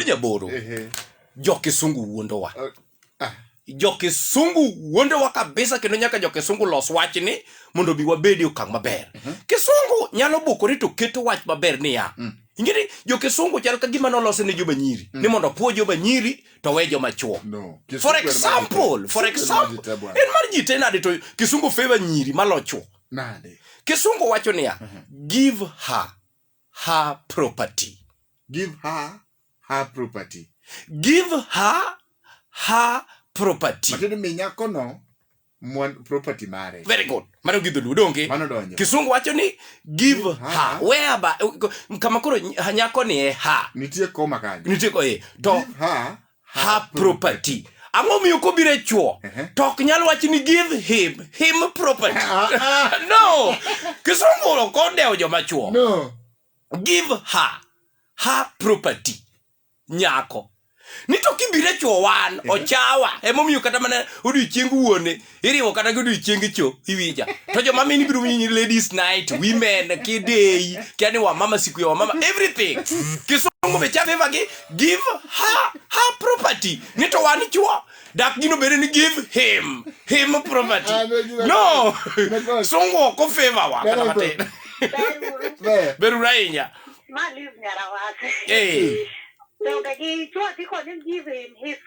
nyaboro Ehe. jokisungu wuondowa Ah, ah. jokisungu wuondowa kabisa kendo nyaka jokisungu los wachni mondo bi wabedi okang' maber kisungu nyalo bukore to keto wach maber niya ingeni jokisungu chal ka gima nolose ne joma nyiri ni mondo puo joma nyiri to we joma chuo No. Kisungu for en mar example jite. for Kisungu en mar example jite bwana. en mar jite nade to kisungu favor nyiri malochuo Nade? kisungu wacho niya give her her property. Give her her property. Give her her property. Matiende mi nyako no mwan property mare. Very good. Mano gi dholuo donge? Mano donjo. Kisungu wacho ni give her. her. Where ba kama koro nyako ni e her. Nitie koma kanyo. Nitie ko e. To give her her property ang'o miyo kobiro e chuo to ok nyal wach ni give him him property no kisungu ok odewo joma chuo no give her her property nyako ni to kibiro e chuo wan ochawa emomiyo kata mana odiochieng wuone iriwo kata godiochienge cho iwinja to joma mini biro winyi ladies night women kideyi kia ni wamama siku ya wamama everything kisungu be chafeva gi give her her property ni to wan chuo dak gino bende ni give him him property no sungu ok ofeva wa kata matin Ber. beru ahinya Ma leave nyara wase. eh Donge gi chuo dhi kod him give him his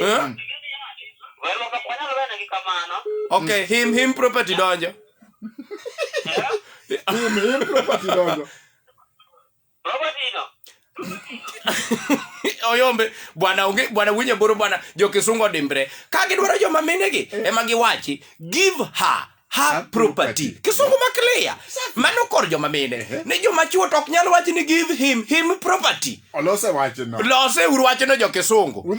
Huh? Okay, him him property donjo. Him him property donjo. oyombe bwana onge bwana winye boro bwana jo kisungo dimbre ka gidwaro joma minegi ema giwachi give her ha Ha property property. kisungu makleya mano kor joma mine Ehe. ni joma chuo to ok nyal wach ni give him him property Olose wachno. lose uru wachno jo kisungu